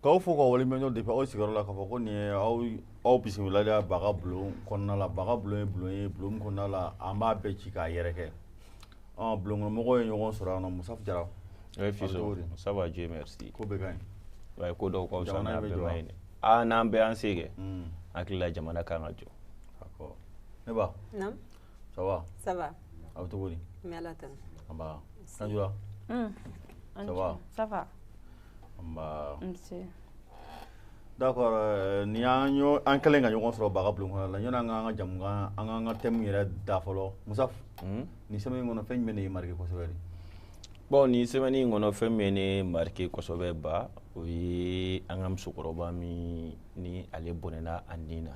K'aw fo ka waleɲuman depuis aw sigiyɔrɔ la k'a fɔ ko nin ye aw bisimilali baga bulon kɔnɔna la baga bulon ye bulon ye bulon min kɔnɔna la an b'a bɛɛ ci k'a yɛrɛkɛ ɔ bulonkɔnɔmɔgɔw ye ɲɔgɔn sɔrɔ yan nɔ musafu jara eh, fiso ça va Dieu merci ko bɛɛ ka ɲi wa ye ko dɔw ka fisa n'a bɛɛ man ɲi dɛ aa n'an bɛ an se kɛ hmm. hakili la jamana kan ka jɔ ne ba ça va ça va aw cogo di n bɛ ala tanu an ba sanjura hmm. ça va ça va D'accord ni an kɛlen ka ɲɔgɔn sɔrɔ baga bulon kɔnɔ la yanni an k'an ka jamu an ka an ka thème yɛrɛ da fɔlɔ musafu ni semaine in kɔnɔ fɛn jumɛn de y'i marqué kosɛbɛ de bon ni semaine in kɔnɔ fɛn min ye ne marqué kosɛbɛ ba o ye an ka musokɔrɔba min ni ale bɔnɛna a ni na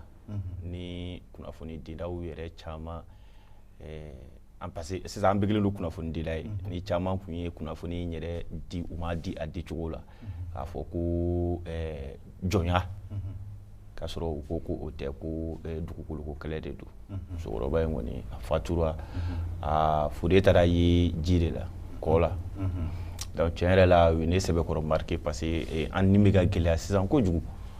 ni kunnafonidilaw yɛrɛ caman an parce que sisan an bɛɛ kɛlen don kunnafonidila ye mhm. ni caman tun ye kunnafoni in yɛrɛ di u m'a di a dicogo la mhm. k'a fɔ ko eh, jɔnya mhm. k'a sɔrɔ u ko ko o tɛ ko eh, dugukoloko kɛlɛ de don musokɔrɔba in kɔni a fatura a fure taara ye ji de la kɔ la donc tiɲɛ yɛrɛ la o ye ne sɛbɛkɔrɔ marqué parce que eh, an ni bɛ ka gɛlɛya sisan kojugu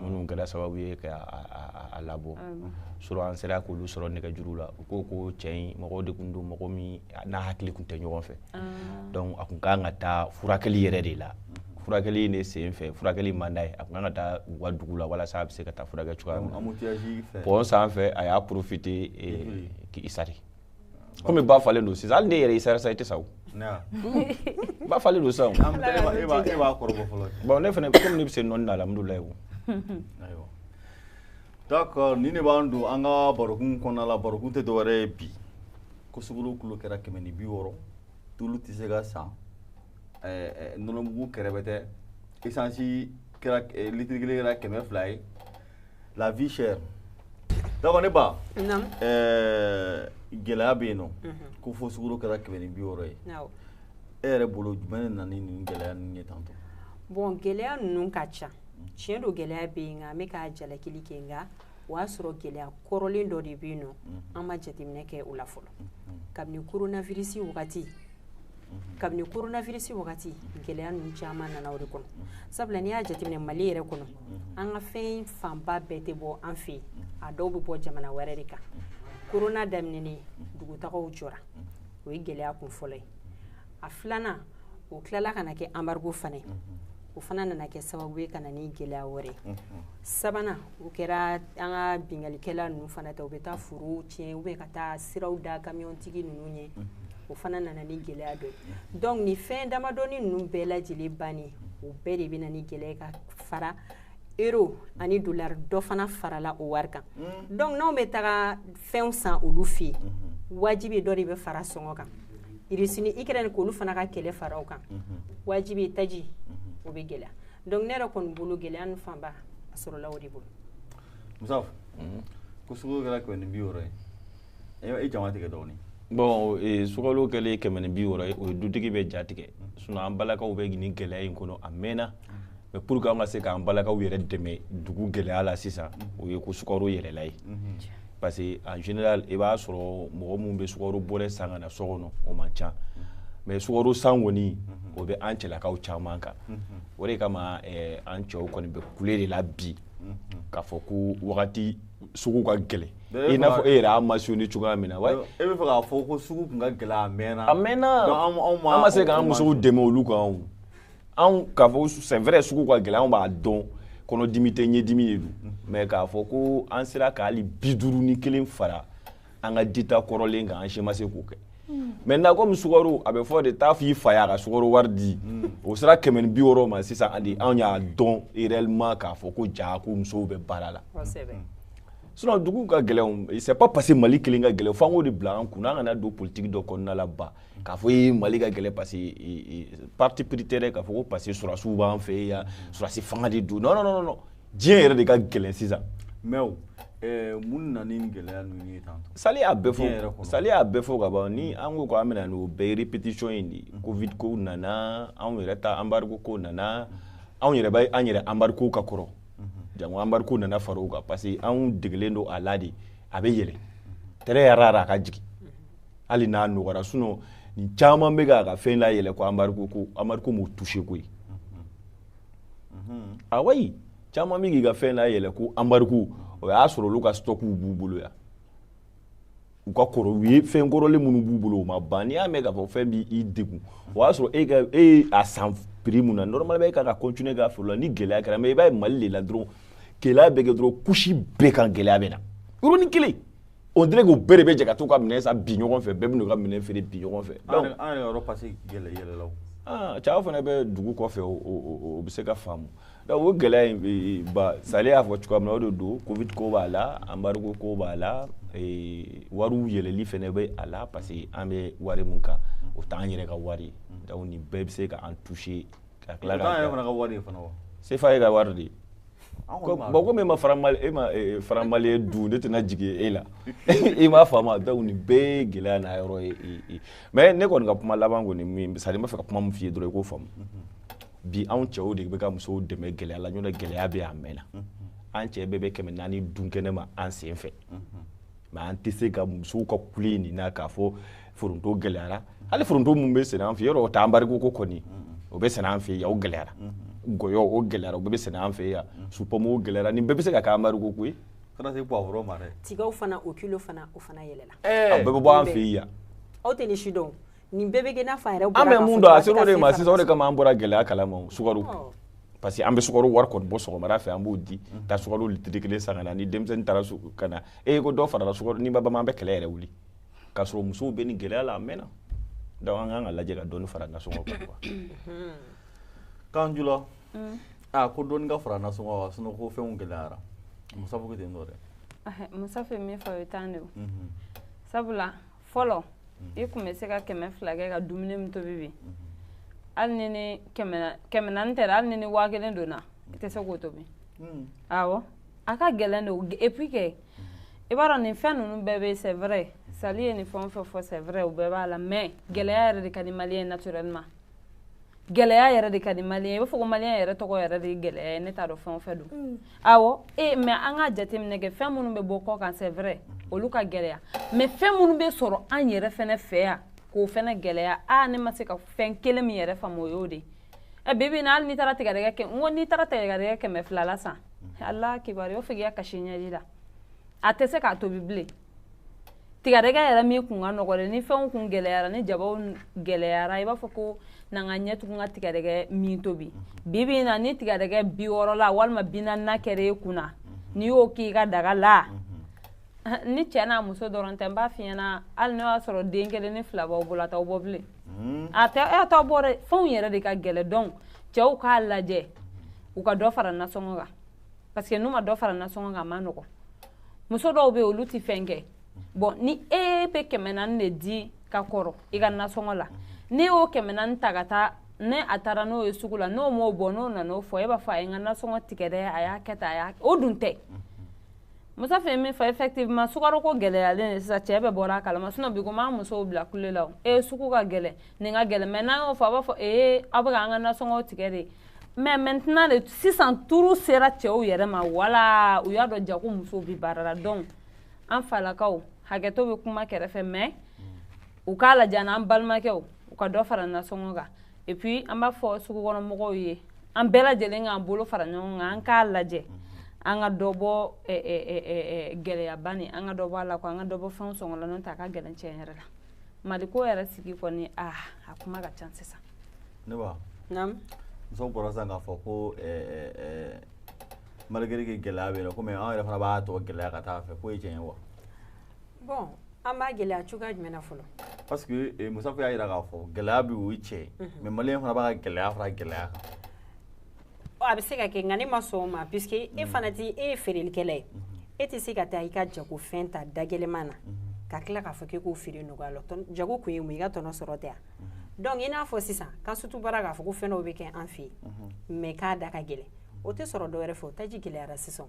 minnu kɛra sababu ye k'a labɔ so an sera k'olu sɔrɔ nɛgɛjuru la u ko ko tiɲɛ mɔgɔ de tun don mɔgɔ min n'a hakili tun tɛ ɲɔgɔn fɛ donc a tun ka kan ka taa furakɛli yɛrɛ de la furakɛli de sen fɛ furakɛli man d'a ye a tun kan ka taa u ka dugu la walasa a bɛ se ka taa furakɛ cogoya min na pont sanfɛ a y'a profité k'i sari kɔmi ba falen don sisan hali ne yɛrɛ i sara sa i tɛ sa o ba falen don sisan e b'a kɔrɔbɔ fɔlɔ bon ne fana komi ne bɛ se nɔnni na alhamdulilayi o ayiwa d'accord nin de b'an don an ka barokun kɔnɔna la barokun tɛ dɔwɛrɛ ye bi ko sukoro kilo kɛra kɛmɛ ni bi wɔɔrɔ tulu tɛ se ka san nɔnɔmugu kɛrɛbɛtɛ esansi kɛra litiri kelen kɛra kɛmɛ fila ye la vie chère d'accord ne ba naamu ɛɛ gɛlɛya bɛ yen nɔ ko fo sukoro kɛra kɛmɛ ni bi wɔɔrɔ ye awɔ e yɛrɛ bolo jumɛn de nana ni nin gɛlɛya ninnu ye tantɔ bon gɛlɛya ninnu ka ca tiɲɛ don gɛlɛya bɛ yen nka an bɛ ka jalakili kɛ nka o y'a sɔrɔ gɛlɛya kɔrɔlen dɔ de bɛ yen nɔ an ma jateminɛ kɛ o la fɔlɔ kabini koronavirisi wagati kabini koronavirisi wagati gɛlɛya ninnu caman nana o de kɔnɔ sabula n'i y'a jateminɛ mali yɛrɛ kɔnɔ an ka fɛn fanba bɛɛ tɛ bɔ an fɛ a dɔw bɛ bɔ jamana wɛrɛ de kan korona daminɛnen dugutagaw jɔra o ye gɛlɛya kun fɔlɔ ye a filanan o tilala ka kɛ embargo fana ye o fana nana kɛ sababu ye ka na ni gɛlɛya wɛrɛ sabanan o kɛra an ka binkalikɛla ninnu fana ta u bɛ taa foro tiɲɛ ou bien ka taa siraw da kamiyɔntigi ninnu ye o fana nana ni gɛlɛya dɔ ye donc ni fɛn damadɔnin ninnu bɛɛ lajɛ lajɛlen bannen o bɛɛ de bɛ na ni gɛlɛya ka fara euro ani dollar dɔ fana farala o wari kan mm. donc n'anw bɛ taga fɛnw san olu fɛ yen mm-hmm. wajibi dɔ de bɛ fara sɔngɔ kan irisi ni ikɛrɛni k'olu fana ka kɛlɛ fara o kan mm-hmm. wajibi taji mm-hmm. o bɛ gɛlɛya donc ne yɛrɛ kɔni bolo gɛlɛya ninnu fanba a sɔrɔla o de bolo musa ko sukaro kɛra kɛmɛ ni bi wɔɔrɔ ye e jama tigɛ dɔɔnin bon e, sukalo kɛlen kɛmɛ ni bi wɔɔrɔ ye o ye dutigi bɛɛ ja tigɛ sinon an balakaw bɛ nin gɛlɛya in kɔnɔ a mɛnna mais pour que an ka se k'an balakaw yɛrɛ dɛmɛ dugu gɛlɛya la sisan o ye ko sukaro yɛlɛla ye parce que en général i b'a sɔrɔ mɔgɔ minnu bɛ sukaro bɔrɛ san ka na so kɔnɔ o man ca mais sukaro san kɔni o bɛ an cɛlakaw caman kan o de kama eh, an cɛw kɔni bɛ kule de la bi k'a fɔ ko wagati sugu ka gɛlɛn i n'a fɔ e yɛrɛ a mentionné cogoya min na wa e bɛ fɛ k'a fɔ ko sugu tun ka gɛlɛn a mɛnna a mɛnna an ma se k'an musow dɛmɛ olu kan anw k'a fɔ c'est vrai sugu ka gɛlɛn anw b'a dɔn kɔnɔdimi tɛ ɲɛdimi de don mais k'a fɔ ko an sera ka hali bi duuru ni kelen fara an ka dita kɔrɔlen kan an si ma se k'o kɛ maintenant komi sukaro a bɛ fɔ de taa f'i fa y'a ka sukaro wari di o sera kɛmɛ ni bi wɔɔrɔ ma sisan ani anw y'a dɔn réellement k'a fɔ ko ja ko musow bɛ baara la sinon dugu ka gɛlɛn c'est pas parce que mali kelen ka gɛlɛn f'an k'o de bila an kun na an kana don politique dɔ kɔnɔna la ba k'a fɔ mali ka gɛlɛn parce parti pritere k'a fɔ ko parce sɔrɔdasiw b'an fɛ yan sɔrɔdasi fanga de don non non non diɲɛ yɛrɛ de ka gɛlɛn sisan mais o eh, mun nana ni gɛlɛya ninnu ye tan sali y'a bɛɛ fɔ sali y'a bɛɛ fɔ ka ban ni an ko k'an bɛna n'o bɛɛ répétition in de mm. covid kow nana anw yɛrɛ ta embargo kow nana anw yɛrɛ bɛ an yɛrɛ embargo ka kɔrɔ mm-hmm. jango embargo nana fara o kan parce que anw degelen don a la de a bɛ yɛlɛ mm-hmm. très rare a ka jigin hali n'a nɔgɔra sinon nin caman bɛ k'a ka fɛn la yɛlɛ ko embargo ko embargo m'o touché koyi ah oui caman bɛ k'i ka fɛn la yɛlɛ ko embargo o y'a sɔrɔ olu ka stɔkiw b'u bolo yan u ka kɔrɔ u ye fɛn kɔrɔlen minnu b'u bolo o ma ban n'i y'a mɛn k'a fɔ fɛn b'i degun o y'a sɔrɔ e ka e ye a san prix min na normalement e ka kan ka continuer k'a feere o la ni gɛlɛya kɛra mais i b'a ye mali de la dɔrɔn gɛlɛya bɛ kɛ dɔrɔn couche bɛɛ kan gɛlɛya bɛ na yɔrɔnin kelen on dirait k'u bɛɛ de bɛ jɛ ka t'u ka minɛn san bi ɲɔgɔn fɛ bɛɛ bɛn'u ka minɛn feere bi ɲɔgɔn fɛ an yɛrɛ yɔrɔ pase gɛlɛ yɛlɛla o ah, cɛw fana bɛ dugu kɔfɛ o bɛ se ka faamu donc o gɛlɛya in eh, ba sali y'a fɔ cogoya min na o de don covid ko b'a la embargo ko b'a la eh, wariw yɛlɛli fana bɛ a la parce que an bɛ wari min kan o t'an yɛrɛ ka wari ye donc nin bɛɛ bɛ se ka an toucher ka tila ka yɛrɛ fana ka wari fana wa sefa ye ka wari de bon comme e ma franc mali e ma franc mali ye dun ne tɛna jigin e la i m'a faamu donc nin bɛɛ ye gɛlɛya n'a yɔrɔ ye mais ne kɔni ka kuma laban kɔni min c'est à dire n b'a fɛ ka kuma min f'i ye dɔrɔn i k'o faamu bi anw cɛw de bɛ ka musow dɛmɛ gɛlɛya la ɲɔntɛ gɛlɛya bɛ yan a mɛnna an cɛ bɛɛ bɛ kɛmɛ naani dun kɛnɛ ma an sen fɛ mais an tɛ se ka musow ka kule nin na k'a fɔ foronto gɛlɛyara hali foronto min bɛ sɛnɛ an fɛ yɔrɔ o tɛ embargo ko kɔni o bɛ sɛnɛ an fɛ yan o gɛlɛyara gɔyɔ o gɛlɛyara o bɛɛ bɛ sɛnɛ an fɛ yan supɔmu o gɛlɛyara nin bɛɛ bɛ se ka kɛ embargo ko ye kana se poivron ma dɛ tigaw fana o kilo fana o fana yɛlɛla a bɛɛ bɛ bɔ an fɛ yan aw tɛ nin si dɔn nin bɛɛ bɛ kɛ n'a fɔ a yɛrɛ bɔra an bɛ mun dɔn a ser'o de ma sisan o de kama an bɔra gɛlɛya kalama sukaro parce que an bɛ sukaro wari kɔni bɔ sɔgɔmada fɛ an b'o di taa sukaro litiri kelen san ka na ni denmisɛnnin taara ka na e ko dɔ farala sukaro ni ba bama an bɛ kɛlɛ yɛrɛ wuli k'a sɔrɔ musow bɛ nin gɛlɛya la a mɛnna donc an kan k'a lajɛ ka dɔɔni fara nasɔngɔ kan quoi kanjula a ko dɔɔni ka fara nasɔngɔ kan sinon ko fɛnw gɛlɛyara musa fo ko ten tɔ dɛ musa fɛ min fɔ o ye tan de o sabula fɔlɔ i kun bɛ se ka kɛmɛ fila kɛ ka dumuni min tobi bi hali ni ni kɛmɛ naani tɛ hali ni ni waa kelen donna i tɛ se k'o tobi awɔ a ka gɛlɛn de o et puis que i b'a dɔn nin fɛn ninnu bɛɛ bɛ c'est vrai sali ye nin fɛn o fɛn fɔ c'est vrai u bɛɛ b'a la mais gɛlɛya yɛrɛ de ka di maliyɛn ye naturellement gɛlɛya yɛrɛ de ka di maliyɛn ye i b'a fɔ ko maliyɛn yɛrɛ tɔgɔ yɛrɛ de ye gɛlɛya ye ne t'a dɔn fɛn o fɛn don mm. awɔ e eh, mais an ka jateminɛ kɛ fɛn minnu bɛ bɔ kɔ kan c'est vrai olu ka gɛlɛya mais fɛn minnu bɛ sɔrɔ an yɛrɛ fɛnɛ fɛ yan k'o fɛnɛ gɛlɛya a ah, ne ma se ka fɛn kelen min yɛrɛ faamu o y'o de ye ɛ bibi na hali n'i taara tigɛdɛgɛ kɛ n ko n'i taara tigɛdɛgɛ kɛmɛ fila la san ala kibaru o f'i ka kasi ɲɛji la a tɛ se k'a tobi bilen tigɛdɛgɛ yɛrɛ min kun ka nɔgɔ dɛ ni fɛnw kun gɛlɛyara ni jabaw gɛlɛyara i b'a fɔ ko n'an ka ɲɛ tugun ka tigɛdɛgɛ min tobi bibi na ni tigɛdɛgɛ bi wɔɔrɔ la walima bi naani na kɛra e kunna n'i y'o k'i ka daga la ni cɛ n'a muso dɔrɔn tɛ n b'a f'i ɲɛna hali n'o y'a sɔrɔ den kelen ni fila b'aw bolo a t'aw bɔ bilen hmm. a tɛ a t'aw bɔ dɛ fɛnw yɛrɛ de ka gɛlɛn donc cɛw k'a lajɛ u ka dɔ fara nasɔngɔ kan parce que n'u ma dɔ fara nasɔngɔ kan a ma nɔgɔn muso dɔw bɛ yen olu tɛ fɛn kɛ bon ni e bɛ kɛmɛ naani de di ka kɔrɔ i ka nasɔngɔ la n'a y'o kɛmɛ naani ta ka taa n'a taara n'o ye sugu la n'o m'o bɔ n'o nan'o fɔ e b'a fɔ a ye n ka nasɔngɔ tigɛ dɛ a y'a kɛ tan a y'a o dun tɛ. musa fɛ min fɔ effectivement sukaro ko gɛlɛyalen de sisan cɛ bɛɛ bɔra a kalama sinon bi ko m'an musow bila kule la o ee sugu ka gɛlɛn nin ka gɛlɛn mais n'an y'o fɔ a b'a fɔ ee aw bɛ ka an ka nasɔngɔw tigɛ de mais maintenant de sisan tour sera cɛw yɛrɛ ma wala u y'a dɔn jaa ko musow bi baara la donc an falakaw hakɛto bɛ kuma kɛrɛfɛ mais u k'a lajɛ n'an balimakɛw u ka dɔ fara nasɔngɔ kan et puis an b'a fɔ sugukɔnɔmɔgɔw ye an bɛɛ lajɛlen k'an bolo fara ɲɔgɔn kan an k'a lajɛ an ka dɔ bɔ gɛlɛyaba nin an ka dɔ bɔ a la ko an ka dɔ bɔ fɛnw sɔngɔ la n'o tɛ a ka gɛlɛn cɛn yɛrɛ la mali ko yɛrɛ sigi kɔni a a kuma ka ca sisan ne ba naamu muso bɔra sisan k'a fɔ ko malgré que gɛlɛya bɛ yen nɔ komi an yɛrɛ fana b'a to gɛlɛya ka taa fɛ k'o ye tiɲɛ ye wa bon an b'a gɛlɛya cogoya jumɛn na fɔlɔ parce que eh, musafu y'a jira k'a fɔ gɛlɛya bɛ o ye tiɲɛ ye mhm. mais maliyɛn fana b'a ka gɛlɛya fara gɛlɛya kan oh, a bɛ se ka kɛ nka ne ma sɔn o ma puisque e mhm. fana ti e ye feerelikɛla ye mhm. e tɛ se ka taa i ka jagofɛn ta dagɛlɛman na ka tila k'a fɔ k'e k'o feere nɔgɔya la jago kun ye mun i ka tɔnɔ sɔrɔ tɛ yan donc i n'a fɔ sisan ka sutu baara k'a fɔ ko fɛn dɔw bɛ kɛ an fɛ yen mais k'a da ka gɛlɛn o tɛ sɔrɔ dɔwɛrɛ fɛ o taji gɛlɛyara sisan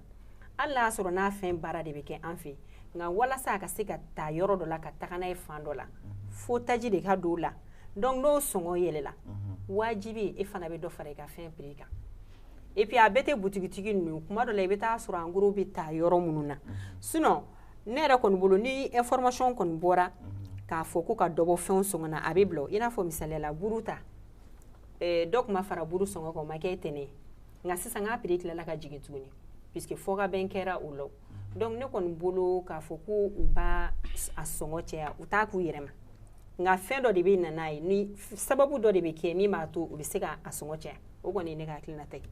hali n'a y'a sɔrɔ n'a fɛn baara de bɛ kɛ an fɛ yen nka walasa a ka se ka taa yɔrɔ dɔ la ka taga n'a ye fan dɔ la fo taji de ka don o la donc n'o sɔngɔ yɛlɛla wajibi e fana bɛ dɔ fara i ka fɛn prix kan et puis a bɛɛ tɛ butigitigi ninnu kuma dɔ la i bɛ taa sɔrɔ en gros bɛ taa yɔrɔ minnu na sinon ne yɛrɛ kɔni bolo ni information kɔni bɔra k'a fɔ ko ka dɔ bɔ fɛn sɔngɔ na a bɛ bila i n'a fɔ misali la buru ta dɔ tun fara buru sɔngɔ kan o ma kɛ tɛnɛ nka sisan k'a prix tilala ka jigin tuguni puisque fɔkabɛn kɛra o la donc ne kɔni bolo k'a fɔ ko u b'a a sɔngɔ cɛya u t'a k'u yɛrɛ ma nka fɛn dɔ de bɛ na n'a ye ni sababu dɔ de bɛ kɛ min b'a to u bɛ se ka a sɔngɔ cɛya o kɔni ye ne ka hakilina ta ye.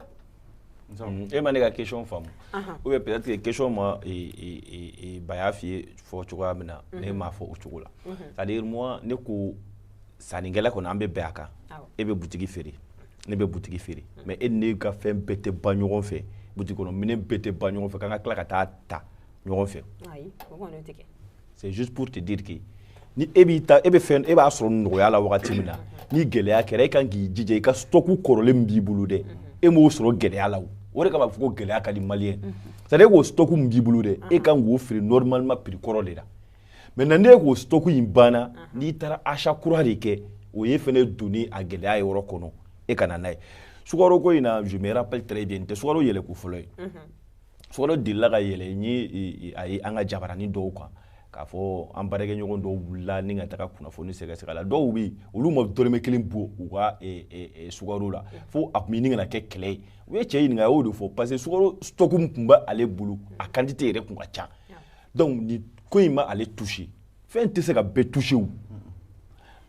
e ma ne ka question faamu ou bien peut-être que question maba y'a f'i ye fɔ cogoya min na ne m'a fɔ o cogo la c'est-à-dire moi ne ko sannikɛla kɔni an bɛ bɛn a kan e bɛ butigi feere ne bɛ butigi feere mais e ni ne ka fɛn bɛɛ tɛ ban ɲɔgɔn fɛ butigi kɔnɔ minɛn bɛɛ tɛ ban ɲɔgɔn fɛ k'an ka tila ka taa ta ɲɔgɔn fɛ c'est juste pour te dire que ni e b'i ta e bɛ fɛn e b'a sɔrɔ nɔgɔya la wagati min na ni gɛlɛya kɛra e kan k'i jija i ka stock kɔrɔlen min b'i bolo dɛ e m'o sɔrɔ gɛlɛya la o o de kama fɔ ko gɛlɛya ka di maliyɛn c'est à dire e k'o stock min b'i bolo dɛ e kan k'o feere normalement prix kɔrɔ de la maintenant ne k'o stock in banna n'i taara achat kura de kɛ o ye fana donni a gɛlɛya yɔrɔ kɔnɔ e kana n'a ye sukaro ko in na je me rappelle très bien tɛ sukaro yɛlɛ ko fɔlɔ ye sukaro delila ka yɛlɛ n ye a ye an ka jabaranin dɔw kan k'a fɔ an baarakɛɲɔgɔn dɔw wulila ni ka taga kunnafoni sɛgɛsɛgɛ la dɔw bɛ yen olu ma dɔrɔmɛ kelen bɔ u ka sukaro la fo a tun bɛ ɲini ka na kɛ kɛlɛ ye u ye cɛ ɲininka a y'o de fɔ parce que sukaro stock min tun bɛ ale bolo a quantité yɛrɛ tun ka ca donc nin ko in ma ale touché fɛn tɛ se ka bɛɛ touché o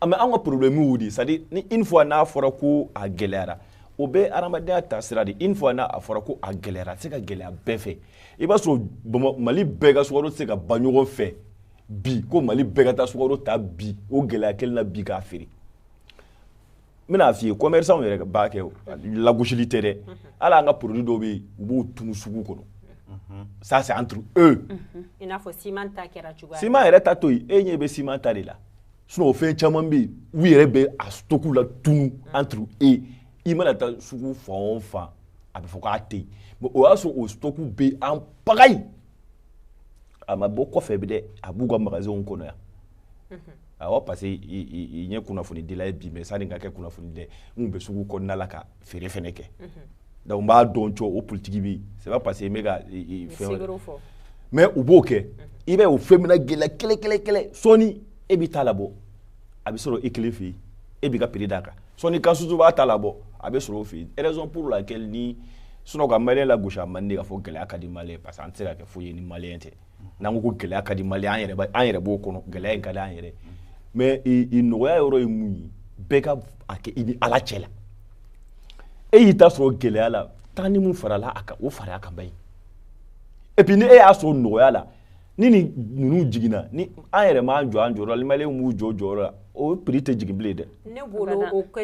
mais an ka problème y'o de c'est à dire ni une fois n'a fɔra ko a gɛlɛyara o bɛ hadamadenya taasira de une fois n'a fɔra ko a gɛlɛyara a tɛ se ka gɛlɛya bɛɛ fɛ i b'a sɔrɔ bama mali bɛɛ ka sukaro tɛ se ka ban ɲɔgɔn fɛ bi ko mali bɛɛ ka taa sukaro ta bi o gɛlɛya kelen na bi k'a feere n bɛna f'i ye commerçants yɛrɛ b'a kɛ o lagosili tɛ dɛ hali an ka produit dɔw bɛ yen u b'o tunu sugu kɔnɔ ça c'est entre eux i n'a fɔ siman ta kɛra cogoya siman yɛrɛ ta to yen e ɲɛ bɛ siman ta de la sinon o fɛn caman bɛ yen u yɛrɛ bɛ a stock la tunu entre eux i mana taa sugu fan o fan a bɛ fɔ k'a tɛ yen mais o y'a sɔrɔ o stock bɛ en pagaille a ma bɔ kɔfɛ bi dɛ a b'u ka magasinw kɔnɔ yan awɔ parce que n ye kunnafonidila ye bi mais sani ka kɛ kunnafonidila n tun bɛ sugu kɔnɔna la ka feere fɛnɛ kɛ donc n b'a dɔn cɔ o politiki bɛ yen c'est pas parce que n bɛ ka fɛn mais u b'o kɛ i bɛ o fɛn mina gɛlɛya kɛlɛ kɛlɛ kɛlɛ sɔɔni e b'i ta labɔ a bɛ sɔrɔ i kelen fɛ yen e b'i ka prix d'a kan sɔɔni kansutu b'a ta labɔ a bɛ sɔrɔ o fɛ yen raison pour laquelle ni sinon ka maliyɛn lagosi a man di k'a fɔ gɛlɛya ka di maliyɛn parce que an tɛ se ka kɛ foyi ye ni maliyɛn tɛ n'an ko ko gɛlɛya ka di maliyɛn ye an yɛrɛ b'o kɔnɔ gɛlɛya in ka di an yɛrɛ mais i nɔgɔya yɔrɔ ye mun ye bɛɛ ka a kɛ i ni ala cɛ la e y'i ta sɔrɔ gɛlɛya la taa ni mun farala a kan o fara a kan ba ye et puis ni e y'a sɔrɔ nɔgɔya la ni nin ninnu jiginna ni an yɛrɛ m'an jɔ an jɔyɔrɔ la maliyɛnw m'u jɔ jɔyɔrɔ la o prix tɛ jigin bilen dɛ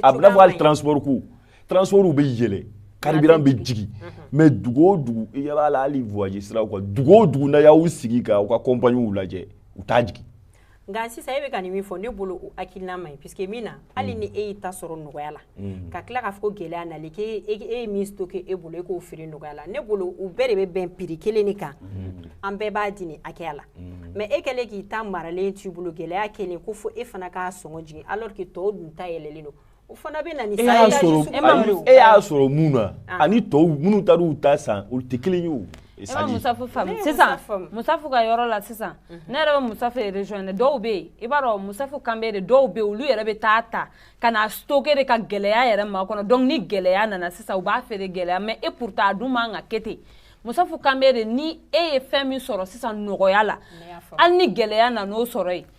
a bɛna fɔ hali transport ko transports bɛ yɛlɛ carburant bɛ jigin mais dugu o dugu i ɲɛ b'a la hali voyage siraw kan dugu o dugu n'a y'aw sigi ka aw ka compagnies lajɛ u t'a jigin nka sisan e bɛ ka nin min fɔ ne bolo o hakilina man ɲi puisque min na hali ni e y'i ta sɔrɔ nɔgɔya la ka tila k'a fɔ ko gɛlɛya nali k'e ye min stocké e bolo e k'o feere nɔgɔya la ne bolo u bɛɛ de bɛ bɛn prix kelen de kan an bɛɛ b'a di nin hakɛya la mais e kɛlen k'i ta maralen t'i bolo gɛlɛya kɛlen ko fo e fana k'a sɔngɔ jigin alors que tɔw dun ta yɛlɛlen don o fana bɛ na ni e y'a c'est à dire sɔrɔ sugu ani- dɔ e ye. y'a sɔrɔ mun na Ah. ani tɔw minnu taara u ta san olu tɛ kelen ye o e ma c'est à dire musafu Ne faamu ye sisan Musafu faamu. musafu ka yɔrɔ la sisan ne yɛrɛ bɛ musafu rejoindre dɔw bɛ yen i b'a dɔn musafu kan bɛ de dɔw bɛ yen olu yɛrɛ bɛ taa ta ka na stocker de ka gɛlɛya yɛrɛ makɔnɔ donc ni gɛlɛya nana sisan u b'a feere gɛlɛya mais et pourtant a dun man ka kɛ ten musafu kan bɛ de ni e ye fɛn min sɔrɔ sisan nɔgɔya la hali ni gɛlɛya nana o sɔrɔ yen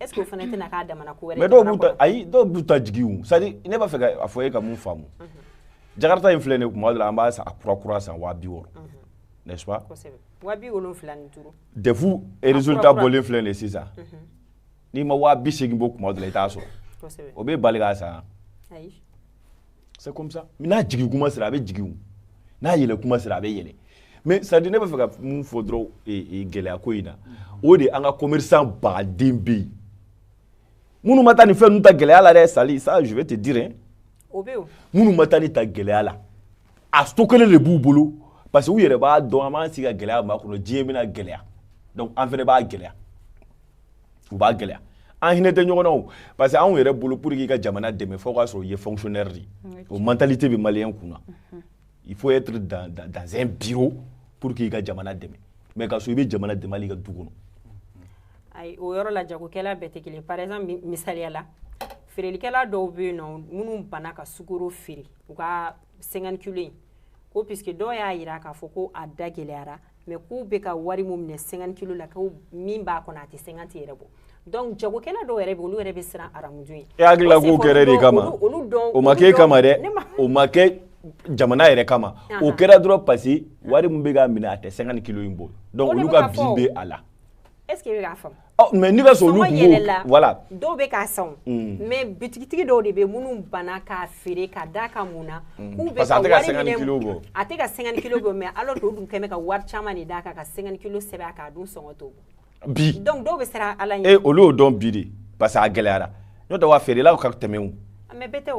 est ce que o fana tɛna k'a damana ko wɛrɛ mais dɔw b'u ta ayi dɔw b'u ta jigin o c'est à dire ne b'a fɛ ka a fɔ e ka mun faamu mhm. jakarta in filɛ nin ye kuma dɔ la an b'a san a kura kura san waa bi wɔɔrɔ mhm. n'est ce pas kosɛbɛ waa bi wolonfila ni duuru des fois résultat bɔlen filɛ nin ye sisan mhm. n'i ma waa bi seegin bɔ kuma dɔ la i t'a sɔrɔ o b'i bali k'a san ayi c'est comme ça n'a jigin kuma sera a bɛ jigin n'a yɛlɛ kuma sera a bɛ yɛlɛ mais c'est à dire ne b'a fɛ ka mun fɔ dɔrɔn gɛlɛya ko in na o de an ka commerçant baden bɛ yen minnu ma taa nin fɛn ninnu ta gɛlɛya la dɛ sali ça je vais te dire hein o bɛ yen minnu ma taa nin ta gɛlɛya la a stockelen de b'u bolo parce que u yɛrɛ b'a dɔn an b'an sigi ka gɛlɛya makɔnɔ diɲɛ bɛna gɛlɛya donc an fana b'a gɛlɛya u b'a gɛlɛya an hinɛ tɛ ɲɔgɔn na o parce que anw yɛrɛ bolo pour que i ka jamana dɛmɛ fo k'a sɔrɔ i ye fonctionnaire de ye o mentalité bɛ maliyɛn kun na mhm. il faut être dans, dans, dans un bureau pour que i ka jamana dɛmɛ mais k'a sɔrɔ i bɛ jamana dɛmɛ hali i ka du kɔnɔ ayi o yɔrɔ la jagokɛla bɛɛ tɛ kelen par exemple misaliya la feerelikɛla dɔw bɛ yen nɔ minnu banna ka sukoro feere u ka cinquante kilo in ko puisque dɔw y'a jira k'a fɔ ko a da gɛlɛyara mais k'u bɛ ka wari min minɛ cinquante kilo la ko min b'a kɔnɔ a tɛ cinquante yɛrɛ bɔ donc jagokɛla dɔw yɛrɛ bɛ olu yɛrɛ bɛ siran haramu dun ɲɛ e hakili la k'o kɛra e de kama olu dɔn o ma k'e kama dɛ o ma kɛ jamana yɛrɛ kama o kɛra dɔrɔn parce wari min bɛ ka minɛ a tɛ cinquante kilo in bɔ donc olu ka bin bɛ a la est ce que e bɛ k'a faamu Mais n'i k'a sɔrɔ olu yɛlɛla voilà dɔw bɛ k'a san mais bitigitigi dɔw de bɛ minnu banna k'a feere ka da ka mun na k'u bɛ a tɛ ka cinquante kilo bɔ mais alors que o dun kɛmɛ ka wari caman de d'a kan ka cinquante kilo sɛbɛn k'a dun sɔngɔ t'o bɔ bi donc dɔw bɛ siran ala ɲɛ olu y'o dɔn bi de parce que a gɛlɛyara n'o tɛ wa feerelaw ka tɛmɛ mais bɛɛ tɛ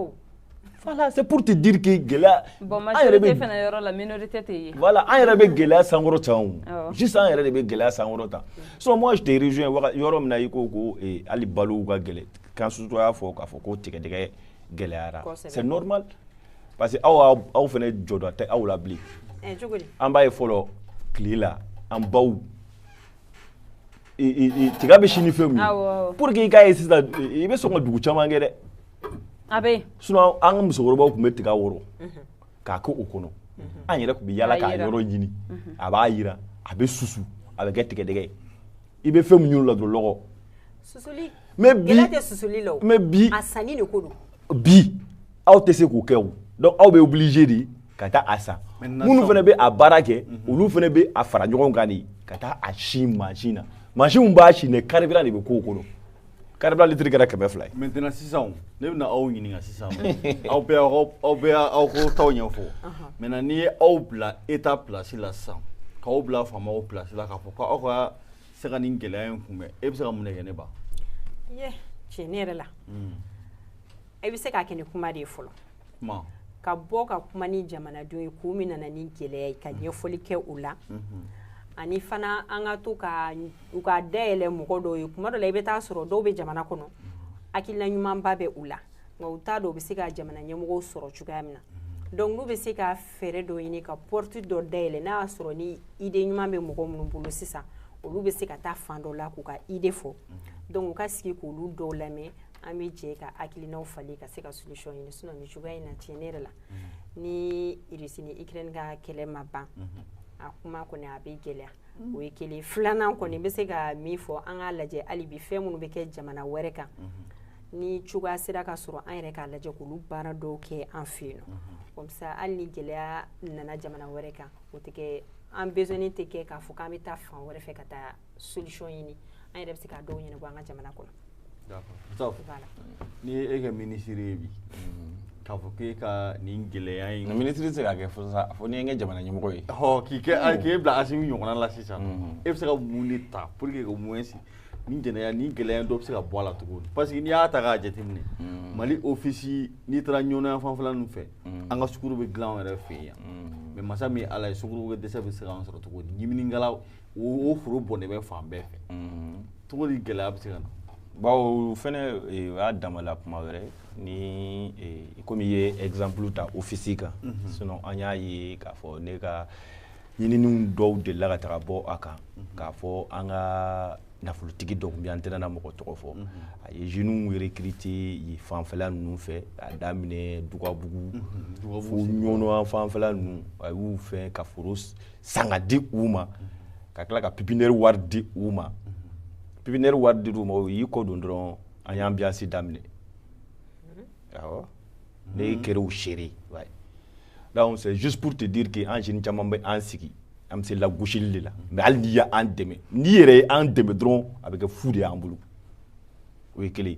Voilà, c'est pour te dire que gɛlɛya bon majorité fana yɔrɔ la minorité tɛ yen voilà an yɛrɛ bɛ gɛlɛya sankɔrɔta o juste an yɛrɛ de bɛ gɛlɛya sankɔrɔta so moi je te rejoins yɔrɔ min na i ko ko hali balow ka gɛlɛya kan surtout i y'a fɔ k'a fɔ ko tigadɛgɛ gɛlɛyara c'est normal parce que aw aw fana jɔda tɛ aw la bilen an b'a ye fɔlɔ tile la an baw tiga bɛ si ni fɛn min pour que i k'a ye sisan i bɛ sɔn ka dugu caman kɛ dɛ a bɛ yen sinon an ka musokɔrɔbaw tun bɛ tiga wɔrɔ k'a kɛ o kɔnɔ an yɛrɛ tun bɛ yaala k'a yɔrɔ ɲini a b'a jiran a bɛ susu a bɛ kɛ tigɛdɛgɛ ye i bɛ fɛn min ɲini o la dɔrɔn lɔgɔ susuli mais bi gɛlɛya tɛ susuli la o mais bi a sanni de ko don bi aw tɛ se k'o kɛ o donc aw bɛ obligé de ka taa a san Maintenant, minnu fana bɛ a baara kɛ olu fana bɛ a fara ɲɔgɔn kan de ka taa a si mansin na mansin min b'a si dɛ carburant de bɛ k'o kɔnɔ carburant litiri kɛra kɛmɛ fila ye maintenant sisan ne bɛna aw ɲininka sisan aw bɛ aw bɛ aw ko taw ɲɛfɔ maintenant n'i ye aw bila état place la sisan k'aw bila faamaw place la k'a fɔ ko aw ka se ka nin gɛlɛya in kunbɛn e bɛ se ka mun de kɛ ne b'a ye tiɲɛ yɛrɛ la e bɛ se k'a kɛ ni kuma de ye fɔlɔ ka bɔ ka kuma ni jamanadenw ye ko min nana ni gɛlɛya ye ka mhm. ɲɛfɔli kɛ o la mhm. ani fana an ka to ka u ka da yɛlɛ mɔgɔ dɔw ye tuma dɔ la i bɛ taa sɔrɔ dɔw bɛ jamana kɔnɔ mhm. hakilila ɲumanba bɛ u la nka u t'a dɔn u bɛ se ka jamana ɲɛmɔgɔw sɔrɔ cogoya min na donc n'u bɛ se ka fɛɛrɛ dɔ ɲini ka porte dɔ dayɛlɛ n'a y'a sɔrɔ ni idée ɲuman bɛ mɔgɔ minnu bolo sisan olu bɛ se ka taa fan dɔ la k'u ka idée fɔ donc u ka sigi k'olu dɔw lamɛn an bɛ jɛ ka hakilinaw falen ka se ka solution ɲini sinon nin cogoya in na tiɲɛ yɛrɛ la ni Russie ni Ukraine ka kɛlɛ ma ban a kuma kɔni a bɛ gɛlɛya o ye kelen filanan kɔni n bɛ se ka min fɔ an k'a lajɛ hali bi fɛn minnu bɛ kɛ jamana wɛrɛ kan ni cogoya sera ka sɔrɔ an yɛrɛ k'a lajɛ k'olu baara dɔw kɛ an fɛ yen nɔ comme ça hali ni gɛlɛya nana jamana wɛrɛ kan o tɛ kɛ an besoin tɛ kɛ k'a fɔ k'an bɛ taa fan wɛrɛ fɛ ka taa solution ɲini an yɛrɛ bɛ se ka dɔw ɲɛnabɔ an ka jamana kɔnɔ n'i ye e kɛ minisiri ye bi k'a fɔ k'e ka nin gɛlɛya in minisiri tɛ se k'a kɛ fo sauf n'i ye n kɛ jamana ɲɛmɔgɔ ye k'i kɛ mm. k'e bila asimi ɲɔgɔnna la sisan mm. e bɛ se ka mun de ta pour que ka mun sigi ni gɛlɛya ni gɛlɛya dɔ bɛ se ka bɔ a la cogo di parce que n'i y'a ta k'a jateminɛ mm. mali ofisi n'i taara ɲɔnɔ fanfɛla ninnu fɛ an ka sukuru bɛ dilan an yɛrɛ fɛ yan mais masa min ala ye sukuru dɛsɛ bɛ se k'an sɔrɔ cogo di timinkala o foro bɔnnen bɛ fan bɛɛ fɛ cogo di gɛlɛya bɛ se ka na bawo fana o y'a damala kuma wɛrɛ ni komi i ye exemple ta ofisi kan sin an y'a ye k'a fɔ ne ka ɲininiw dɔw de la ka taga bɔ a kan k'a fɔ an ka nafolotigi dɔ bɛ an tɛna mɔgɔ tɔgɔ fɔ a ye jeunes recruter yen fanfɛla ninnu fɛ a daminɛ dugabugu fo ɲɔnɔ fanfɛla ninnu a y'u fɛn ka foro san ka di u ma ka tila ka pipinɛri wari di u ma pipinɛri wari di u ma o y'i kɔ don dɔrɔn an y'ambiance daminɛ awɔ ne kɛra o seere donc c'est juste pour te dire que an jeunes caman bɛ an sigi an bɛ se lagosili de la mais hali n'i y'an dɛmɛ n'i yɛrɛ ye an dɛmɛ dɔrɔn a bɛ kɛ fu de y'an bolo o ye kelen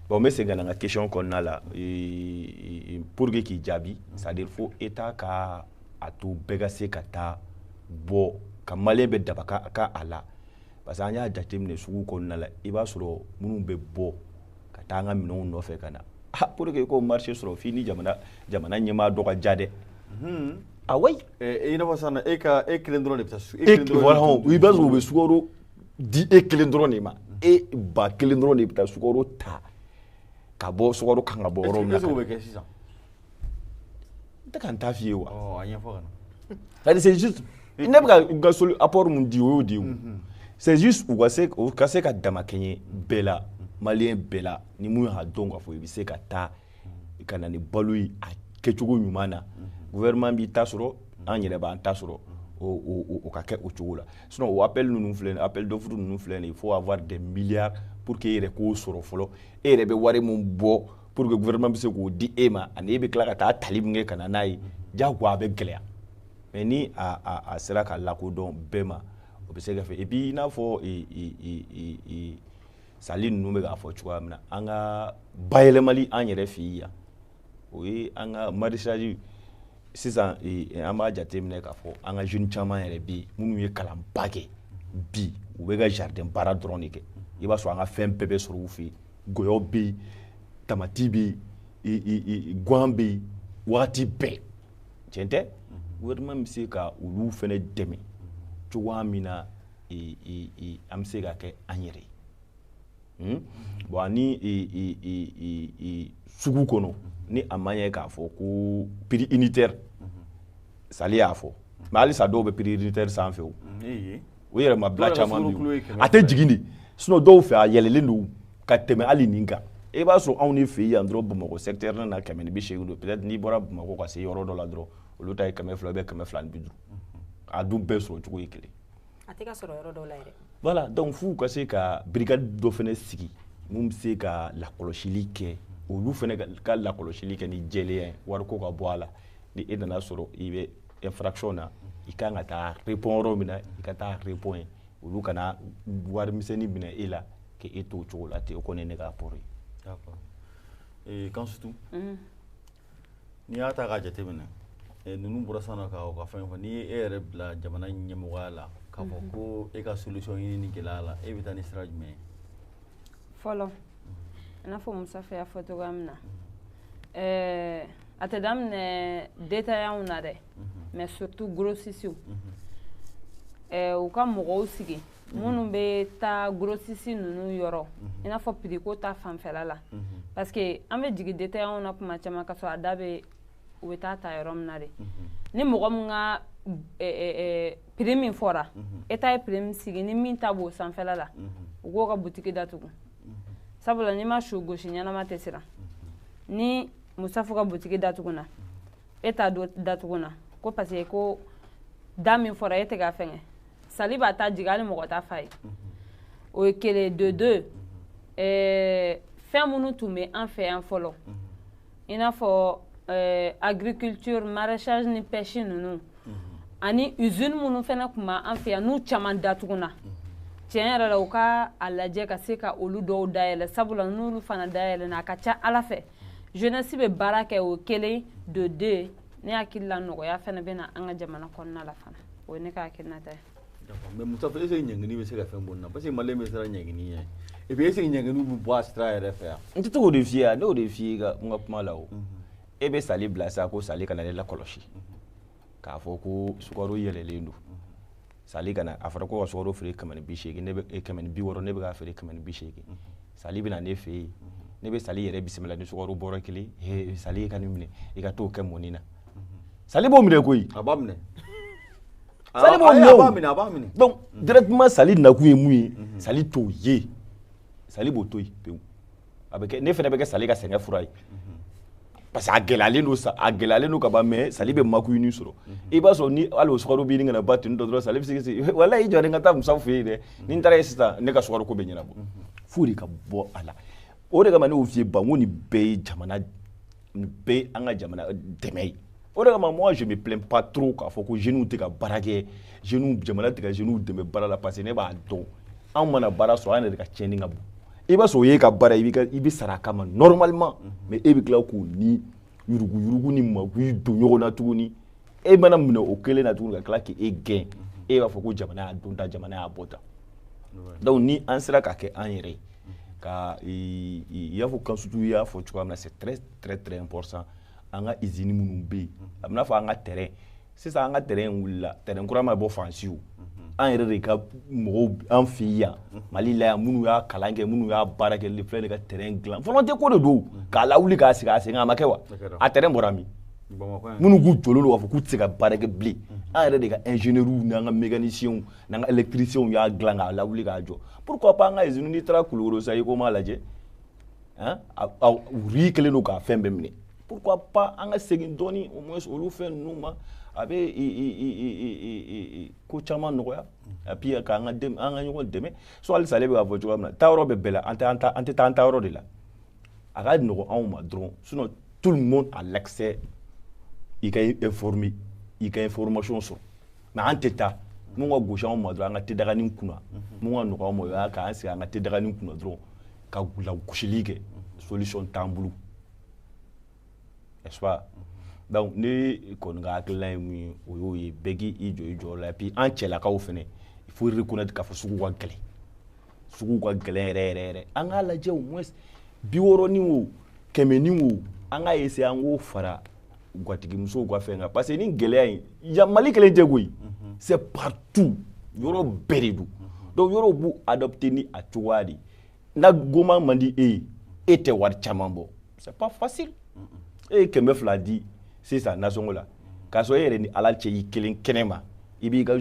bon n bɛ segin ka na n ka question kɔnɔna la pour que k'i jaabi c'est à dire fo état ka a to bɛɛ ka se ka taa bɔ ka maliyɛn bɛɛ damakɛɲɛ a la parce que an y'a jateminɛ sugu kɔnɔna la i b'a sɔrɔ minnu bɛ bɔ ka taa an ka minɛnw nɔfɛ ka na ah pour que k'o marché sɔrɔ f'i ni jamana jamana ɲɛmaa dɔ ka jɛ dɛ hmm. ah oui eh, eh, i n'a fɔ sisan e ka e kelen dɔrɔn de bɛ taa e kelen dɔrɔn i b'a sɔrɔ u bɛ sukaro di e kelen dɔrɔn de ma e ba kelen dɔrɔn de bɛ taa sukaro ta ka bɔ sukaro kan ka bɔ yɔrɔ min na bɛ kɛ sisan n tɛ ka n ta f'i ye wa a ɲɛfɔ ka na c'est-à-dire c'est juste ne bɛ ka apport mun di o y'o de ye mhm. c'est juste u ka se u ka se ka damakɛɲɛ bɛɛ la maliyɛn bɛɛ la ni mun y'a dɔn k'a fɔ i bɛ se ka taa ka na ni balo ye a kɛcogo ɲuman na gouvernement b'i ta sɔrɔ an yɛrɛ b'an ta sɔrɔ o ka kɛ o cogo la sinon o appel ninnu filɛ nin appel d'offre ninnu filɛ nin il faut avoir des milliards pour que e yɛrɛ k'o sɔrɔ fɔlɔ e yɛrɛ bɛ wari min bɔ pour que gouvernement bɛ se k'o di e ma ani e bɛ tila ka taa tali min kɛ ka na n'a ye diyagoya a bɛ gɛlɛya mais ni a a a sera ka lakodɔn bɛɛ ma o bɛ se ka fɛ et puis i n'a fɔ e e e e sali ninnu bɛ k'a fɔ cogoya min na an ka bayɛlɛmali an yɛrɛ fɛ yan o ye an ka maraîchage sisan an b'a jateminɛ k'a fɔ an ka jeunes caman yɛrɛ bɛ yen minnu ye kalanba kɛ bi u bɛ ka jardin baara dɔrɔn de kɛ i b'a sɔrɔ an ka fɛn bɛɛ bɛ sɔrɔ u fɛ yen gɔyɔ bɛ yen tamati bɛ yen gan bɛ yen waati bɛɛ tiɲɛ tɛ gouvernement bɛ se ka olu fana dɛmɛ cogoya min na an bɛ se ka kɛ an yɛrɛ ye hmm? bon ani sugu kɔnɔ ni a ma ɲɛ k'a fɔ ko prix unitaire sali y'a fɔ mais halisa dɔw bɛ prix unitaire sanfɛ o o yɛrɛ ma bila caman bɛ yen a tɛ jigin dɛ sinon dɔw fɛ a yɛlɛlen don ka tɛmɛ hali nin kan e b'a sɔrɔ anw de fɛ yan dɔrɔn bamakɔ secteur na na kɛmɛ ni bi seegin don peut être n'i bɔra bamakɔ ka se yɔrɔ dɔ la dɔrɔn olu ta ye kɛmɛ fila ou bien kɛmɛ fila ni bi duuru a dun bɛɛ sɔrɔ cogo ye kelen a tɛ ka sɔrɔ yɔrɔ dɔw la yɛrɛ voilà donc f'u ka se ka brigade dɔ fana sigi mun bɛ se ka lakɔlɔsili kɛ olu fana ka lakɔlɔsili kɛ ni jɛlenya ye wariko ka bɔ a la ni e nana sɔrɔ i bɛ infraction na i ka kan ka taa répond yɔrɔ min na i ka taa répond yen olu kana wari misɛnnin minɛ e la k'e to o cogo la ten o kɔni ye ne ka apport ye. d'accord ee Kansutu. n'i y'a ta k'a jateminɛ eh, ninnu bɔra sisan ka u ka fɛn fɔ n'i ye e yɛrɛ bila jamana ɲɛmɔgɔya la k'a fɔ mhm. ko e ka solution ɲini nin gɛlɛya la e bɛ taa ni sira jumɛn ye fɔlɔ i n'a fɔ musafa y'a fɔ cogoya min na mhm. eh, a tɛ daminɛ détaillantw na dɛ mhm. mais surtout grossistew eh, u ka mɔgɔw sigi mhm. minnu bɛ taa grossistes ninnu yɔrɔ mhm. i n'a fɔ prix ko ta sanfɛla la mhm. parce que an bɛ jigin détaillants na kuma caman ka sɔrɔ a da bɛ u bɛ taa ta yɔrɔ min na de ni mɔgɔ min ka prix min fɔra état ye prix min sigi ni min ta b'o sanfɛla la u k'o ka butiki datugu sabula n'i ma su gosi ɲɛnama tɛ siran ni musafu ka butiki datuguna e ta datuguna ko parce que ko da min fɔra e tɛ ka fɛngɛ sali b'a ta jigin hali mɔgɔ t'a f'a ye o ye kelen de deux ɛɛ fɛn minnu tun bɛ an fɛ yan fɔlɔ i n'a fɔ ɛɛ agriculture maraîchage ni pêche ninnu ani usine minnu fana tun b'an fɛ yan n'u caman datuguna tiɲɛ yɛrɛ la u ka a lajɛ ka se ka olu dɔw dayɛlɛ sabula n'olu fana dayɛlɛna a ka ca a la fɛ jeunesse bɛ baara kɛ o kelen de deux ne hakili la nɔgɔya fana bɛ na an ka jamana kɔnɔna la fana o ye ne ka hakilinata ye mais mustafa est-ce ɲangini bɛ se ka fɛn bɔ nin na parce que malien bɛ siran ɲangini ɲɛ et puis est-ce ɲangini bɛ bɔ a sira yɛrɛ fɛ yan n tɛ to k'o de f'i ye ne y'o de f'i ye n ka kuma la o e bɛ sali bila sa ko sali ka na ne lakɔlɔsi k'a fɔ ko sukaro yɛlɛlen don sali ka na a fɔra ko ka sukaro feere kɛmɛ ni bi seegin ne bɛ eh, kɛmɛ ni bi wɔɔrɔ ne bɛ k'a feere kɛmɛ ni bi seegin sali bɛ na ne fɛ yen ne bɛ sali yɛrɛ bisimila ni sukaro bɔrɛ kelen ye sali e ka nin minɛ i ka t'o kɛ mɔni na sali b'o minɛ koyi a b'a minɛ sali b'o minɛ a b'a minɛ a b'a minɛ donc directement sali nakun ye mun ye sali t'o ye sali b'o to yen pewu a bɛ kɛ ne fana bɛ kɛ sali ka sɛgɛn fura ye parce que a gɛlɛyalen don sa a gɛlɛyalen don ka ban mais sali bɛ magouille nin sɔrɔ i b'a sɔrɔ ni hali o sukaro bɛ ɲini ka na ban tuni dɔ dɔrɔn sali bɛ se k'i walayi i jɔ n ka taa musa fɛ yen dɛ ni n taara yen sisan ne ka sukaro ko bɛ ɲɛnabɔ f'o de ka bɔ a la o de kama ne y'o f'i ye ban ko nin bɛɛ ye jamana nin bɛɛ ye an ka jamana dɛmɛ ye o de kama moi je me plains pas trop k'a fɔ ko jeunes tɛ ka baara kɛ jeunes jamana tɛ ka jeunes dɛmɛ baara la parce que ne b'a dɔn anw mana baara sɔrɔ an yɛrɛ de ka tiɲɛni ka bon i b'a sɔrɔ o y'e ka baara ye i bɛ sara a kama normalement mais e bɛ tila k'o ni yuruguyurugu ni magouille don ɲɔgɔn na tuguni e mana minɛ o kelen na tuguni ka tila k'e gɛn e b'a fɔ ko jamana y'a don tan jamana y'a bɔ tan donc ni an sera ka kɛ an yɛrɛ ye ka i y'a fɔ kansutu y'a fɔ cogoya min na c'est très très très important an ka usine minnu bɛ yen a b'i n'a fɔ an ka train sisan an ka train wulila train kura ma bɔ faransi o an yɛrɛ de ka mɔgɔw an fɛ yan mali la yan minnu y'a kalan kɛ minnu y'a baara kɛ le filɛ de ka train dilan volonté ko de don k'a lawuli k'a sigi a sen kan a ma kɛ wa a train bɔra min minnu k'u jɔlen don k'a fɔ k'u tɛ se ka baara kɛ bilen an yɛrɛ de ka ingénieurs n'an ka mécaniciens n'an ka électriciens y'a dilan k'a lawuli k'a jɔ pourquoi pas an ka usine n'i taara kulukoro sa HUICOMA lajɛ hein rouille kɛlen don k'a fɛn bɛɛ minɛ pourquoi pas an ka segin dɔɔni au moins olu fɛn ninnu ma a bɛ ko caman nɔgɔya et puis k'an ka an ka ɲɔgɔn dɛmɛ so halisa ale bɛ k'a fɔ cogoya min na taayɔrɔ bɛ bɛɛ la an tɛ an ta an tɛ taa an taayɔrɔ de la a ka nɔgɔn anw ma dɔrɔn sinon tout le monde a l'accès i ka informer i ka information sɔrɔ mais an tɛ taa mun ka gosi anw ma dɔrɔn an ka tedaganin kunna mun ka nɔgɔ an ma o y'an k'an sigi an ka tedaganin kunna dɔrɔn ka lagosili kɛ solution t'an bolo n'est-ce pas donc ne kɔni ka hakilina ye mun ye o y'o ye bɛɛ k'i jɔ i jɔyɔrɔ la et puis an cɛlakaw fɛnɛ il faut reconnaître k'a fɔ sugu ka gɛlɛn sugu ka gɛlɛn yɛrɛ yɛrɛ yɛrɛ an k'a lajɛ au moins bi wɔɔrɔni o kɛmɛni o an k'a essayer an k'o fara gatigimusow ka fɛn kan parce que ni gɛlɛya in yan mali kelen tɛ koyi mhm. c'est partout yɔrɔ bɛɛ de don mhm. donc yɔrɔw b'u adapter ni a cogoya de ye na goman man di e ye e tɛ wari caman bɔ c'est pas facile e ye kɛmɛ fila di sisan nasɔngɔ la k'a sɔrɔ e yɛrɛ ni ala cɛ i kelen kɛnɛ ma i b'i ka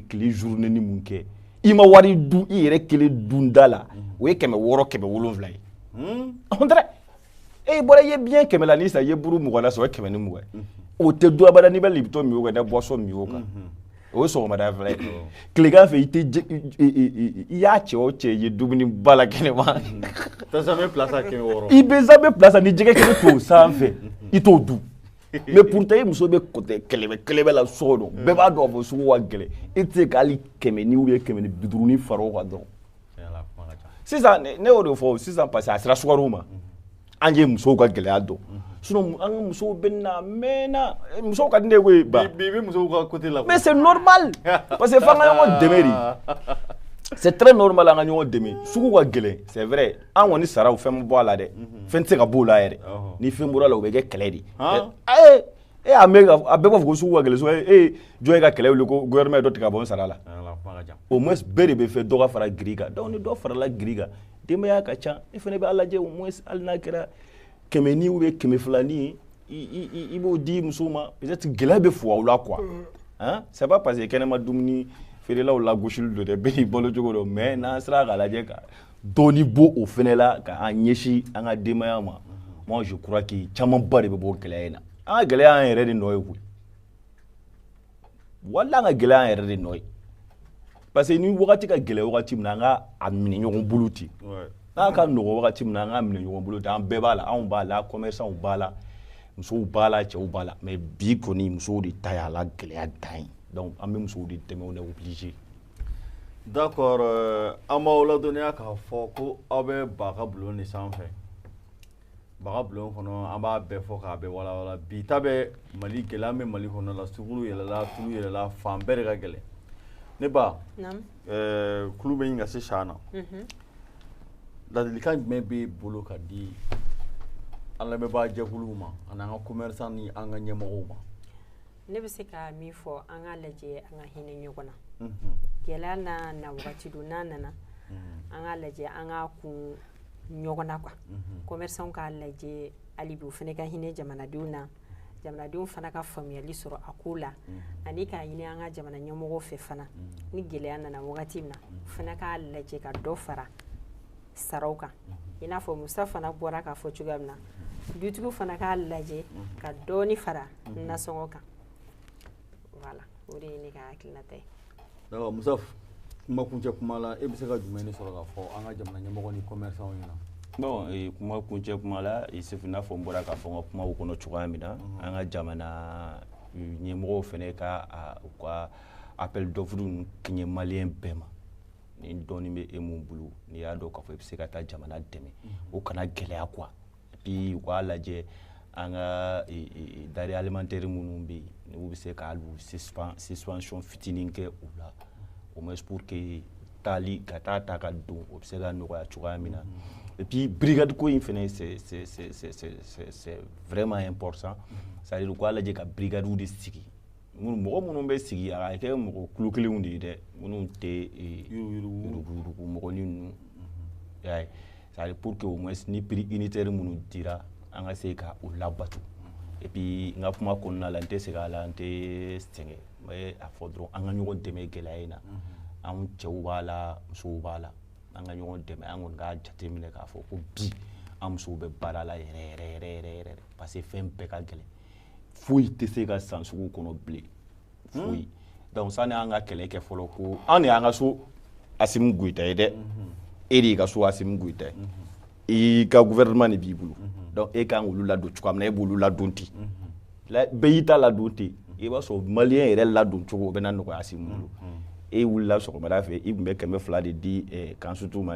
tile journée ni mun kɛ i ma wari dun i yɛrɛ kelen dunda la o ye kɛmɛ wɔɔrɔ kɛmɛ wolonwula ye on dirait e bɔra i ye biɲɛ kɛmɛ lanin san i ye buru mugan na san o ye kɛmɛ ni mugan o tɛ dun abada n'i bɛ lipton min o kan i bɛ boisson min o kan o ye sɔgɔmada fɛla ye tilegan fɛ i tɛ i y'a cɛ o cɛ ye dumuni ba la kɛnɛma i bɛ zamɛ plat san ni jɛgɛ kɛnɛ t'o sanfɛ i t'o dun mais pourtant i muso bɛ côté kɛlɛbɛ kɛlɛbɛ la so kɔnɔ bɛɛ b'a dɔn k'a fɔ sugu ka gɛlɛn e tɛ se ka hali kɛmɛ ni ou bien kɛmɛ ni biduuru ni fara o kan dɔrɔn sisan ne y'o de fɔ sisan parce que a sera sukaro ma an ye musow ka gɛlɛya dɔn sinon an ka musow bɛ na mɛnna musow ka di ne ye koyi ba bi bɛ musow ka côté la mais c'est normal parce que f'an ka ɲɔgɔn dɛmɛ de c'est très normal an ka ɲɔgɔn dɛmɛ sugu ka gɛlɛn c'est vrai an kɔni saraw fɛn ma bɔ a la dɛ fɛn tɛ se ka bɔ o la yɛrɛ ni fɛn bɔr'a la o bɛ kɛ kɛlɛ de ye e y'a mɛn a bɛɛ b'a fɔ ko sugu ka gɛlɛn e ye jɔn ye ka kɛlɛ wuli ko gouvernement ye dɔ tigɛ ka bɔ n sara la au moins bɛɛ de b'a fɛ dɔ ka fara grille kan donc ni dɔ farala grille kan denbaya ka ca e fana b'a lajɛ au moins hali n'a kɛra kɛmɛ ni ou bien kɛmɛ fila ni i i b'o di musow ma peut être gɛlɛya bɛ fug'aw la quoi hein c'est pas parce que kɛnɛma dumuni feerelaw lagosili don dɛ bɛɛ n'i balo cogo don mais n'an sera k'a lajɛ ka dɔɔni bɔ o fana la ka an ɲɛsin an ka denbaya ma moi je crois que camanba de bɛ bɔ gɛlɛya in na an ka gɛlɛya y'an yɛrɛ de nɔ ye koyi wala an ka gɛlɛya y'an yɛrɛ de nɔ ye parce que ni wagati ka gɛlɛn wagati min na an ka a minɛ ɲɔgɔn bolo ten n'a ka nɔgɔ wagati min na an ka minɛ ɲɔgɔn bolo ten an bɛɛ b'a la anw b'a la commerçants b'a la musow b'a la cɛw b'a la mais bi kɔni musow de ta y'a la gɛlɛya dan ye donc an bɛ musow de dɛmɛ on est obligé d'accord euh, an b'aw ladɔnniya k'a fɔ ko aw bɛ ba ka bulon de sanfɛ ba ka bulon kɔnɔ an b'a bɛɛ fɔ k'a bɛɛ walawala bi ta bɛ mali gɛlɛya bɛ mali kɔnɔ la sukaro yɛlɛla tulu yɛlɛla fan bɛɛ de ka gɛlɛn ne ba euh, kulun bɛ ɲini ka se san na mhm. ladilikan jumɛn b'e bolo ka di an lamɛnbaa jɛkuluw ma ani an ka commerçant ni an ka ɲɛmɔgɔw ma ne bɛ se ka min fɔ an ka lajɛ an ka hinɛ ɲɔgɔn na gɛlɛya nana wagati don n'a nana an ka lajɛ an ka kun ɲɔgɔn na quoi commerçants k'a lajɛ hali bi u fana ka hinɛ jamanadenw na jamanadenw fana ka faamuyali sɔrɔ a ko la ani k'a ɲini an ka jamana ɲɛmɔgɔw fɛ fana ni gɛlɛya nana wagati min na u fana k'a lajɛ ka dɔ fara saraw kan i n'a fɔ musa fana bɔra k'a fɔ cogoya min na dutigiw fana k'a lajɛ ka dɔɔni fara nasɔngɔ kan voilà o de ye ne ka hakilinata ye d'accord musa kuma kuncɛ kuma la e bɛ se ka jumɛn de sɔrɔ k'a fɔ an ka jamana ɲɛmɔgɔ ni commerçant ɲɛna bon eh, kuma kuncɛ kuma la eh, sefu i n'a fɔ n bɔra k'a fɔ n ka kumaw kɔnɔ cogoya min na mhm. an ka jamana eh, ɲɛmɔgɔw fana ka u ka appel d'offre ninnu kɛɲɛ maliyɛn bɛɛ ma ni dɔɔni bɛ e mun bolo n'i y'a dɔn k'a fɔ i bɛ se ka taa jamana dɛmɛ o kana gɛlɛya quoi et puis u k'a lajɛ an ka e, e, e, denrées alimentaires minnu bɛ yen n'u bɛ se ka u suspen suspension fitinin kɛ u la au moins pour que taali ka taa ta ka don o bɛ se ka nɔgɔya cogoya min na et puis brigade ko in fana c'est c'est c'est c'est c'est vraiment important c'est à dire u k'a lajɛ ka brigades de sigi. minnu mɔgɔ minnu bɛ sigi a ka kɛ mɔgɔ kologɛlɛnw de ye dɛ minnu tɛ yurugu mɔgɔnin ninnu y'a ye c'est pour que au moins ni prix unitaire minnu dira an ka se ka o labato et puis n ka kuma kɔnɔna la n tɛ sɛgɛn a la n tɛ sɛgɛn n bɛ a fɔ dɔrɔn an ka ɲɔgɔn dɛmɛ gɛlɛya in na anw cɛw b'a la musow b'a la an ka ɲɔgɔn dɛmɛ an kɔni k'a jateminɛ k'a fɔ ko bi an musow bɛ baara la yɛrɛ yɛrɛ yɛrɛ yɛrɛ yɛrɛ parce que fɛn bɛɛ ka gɛlɛn foyi tɛ se ka san sugu kɔnɔ bilen hmm. foyi donc sani an ka kɛlɛ kɛ fɔlɔ ko an de y'an ka so asimu goyita ye dɛ hmm. e de y'i ka so asimu goyita ye hmm. i ka gouvernement de b'i bolo donc e kan k'olu ladon cogoya min na e b'olu ladon ten bɛɛ y'i ta ladon ten i b'a sɔrɔ maliyɛn yɛrɛ ladon cogo o bɛna nɔgɔya asimu bolo e wulila sɔgɔmada fɛ i tun bɛ kɛmɛ fila de di eh, kansutu ma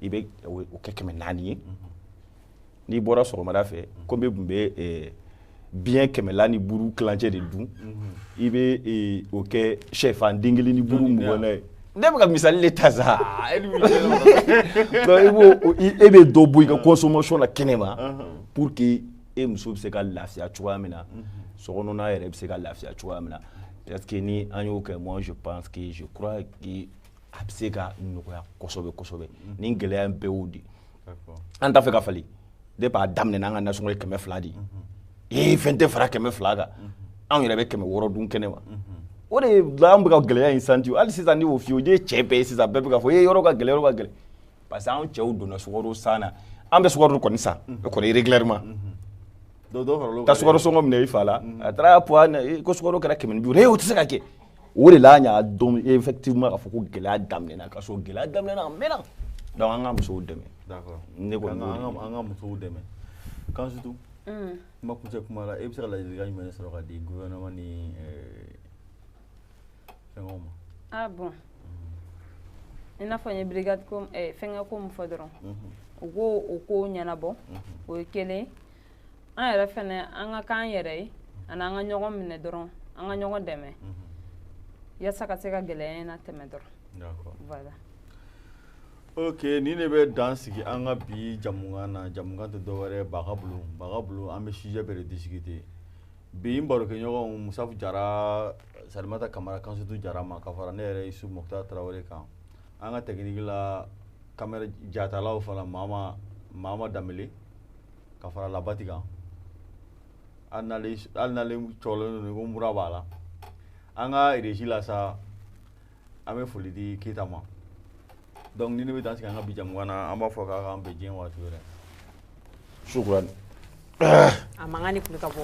i bɛ o kɛ kɛmɛ naani ye n'i bɔra sɔgɔmada fɛ komi e tun bɛ eh, biɲɛ kɛmɛla ni buru kilancɛ de dun i bɛ eh, o kɛ sɛfan den kelen ni buru mugan ye ne bɛ ka misali de ta sa e b'o e bɛ dɔ bɔ i ka consommation na kɛnɛ ma pour que e muso bɛ se ka lafiya cogoya min na sokɔnɔna yɛrɛ bɛ se ka lafiya cogoya min na parce que ni an y'o kɛ moi je pense que je crois que a bɛ se ka nɔgɔya kosɛbɛ kosɛbɛ mm-hmm. nin gɛlɛya bɛɛ y'o de an t'a fɛ ka falen depuis a daminɛ n'an ka nasɔngɔ ye kɛmɛ fila de ye mm-hmm. ee fɛn tɛ fara kɛmɛ fila kan mm-hmm. anw yɛrɛ bɛ kɛmɛ wɔɔrɔ dun kɛnɛ ma o de la an bɛ ka gɛlɛya in santi hali sisan ni o f'i ye o de ye cɛ bɛɛ ye sisan bɛɛ bɛ k'a fɔ ee yɔrɔ ka gɛlɛn yɔrɔ ka gɛlɛn parce que anw cɛw donna sukaro san na an bɛ sukaro kɔni san o kɔni régulièrement ka sukaro sɔngɔ minɛ i fa la a taara poids ko sukaro kɛra kɛmɛ ni bi duuru ee o tɛ se ka kɛ o de la an y'a dɔn effectivement k'a fɔ ko gɛlɛya daminɛna ka sɔrɔ gɛlɛya daminɛna a mɛnna donc an ka musow dɛmɛ d'accord ne kɔni b'o de an ka musow dɛmɛ Kansutu mm. kuma kuncɛ kuma la e bɛ se ka ladilikan jumɛn de sɔrɔ ka di gouvernement ni euh, fɛngɛw ma ah bon mm. i n'a fɔ n ye brigade ko eh, fɛngɛ ko min fɔ dɔrɔn mhm. u k'o o ko ɲɛnabɔ mhm. o ye kelen an yɛrɛ fɛnɛ an ka k'an yɛrɛ ye ani an ka ɲɔgɔn minɛ dɔrɔn an ka ɲɔgɔn dɛmɛ yasa ka se ka gɛlɛya in latɛmɛ dɔrɔn voilà ok nin de bɛ dan sigi an ka bi jamukan na jamukan tɛ dɔwɛrɛ baga bulu baga bulu an bɛ sujet bɛɛ de discuter bi n barokɛɲɔgɔnw musafu jara salimata kamara kansutu jara ma ka fara ne yɛrɛ isu mɔkuta tarawele kan an ka technique la caméra jatalaw fana mama mama danbele ka fara labati kan hali n'ale cɔlen don ko mura b'a la an ka régie la sa an bɛ foli di keyita ma donc nin de bɛ dan sigi an ka bi jamukan na an b'a fɔ k'a k'an bɛn diɲɛ waati wɛrɛ sukurani a mankan de tun bɛ ka bɔ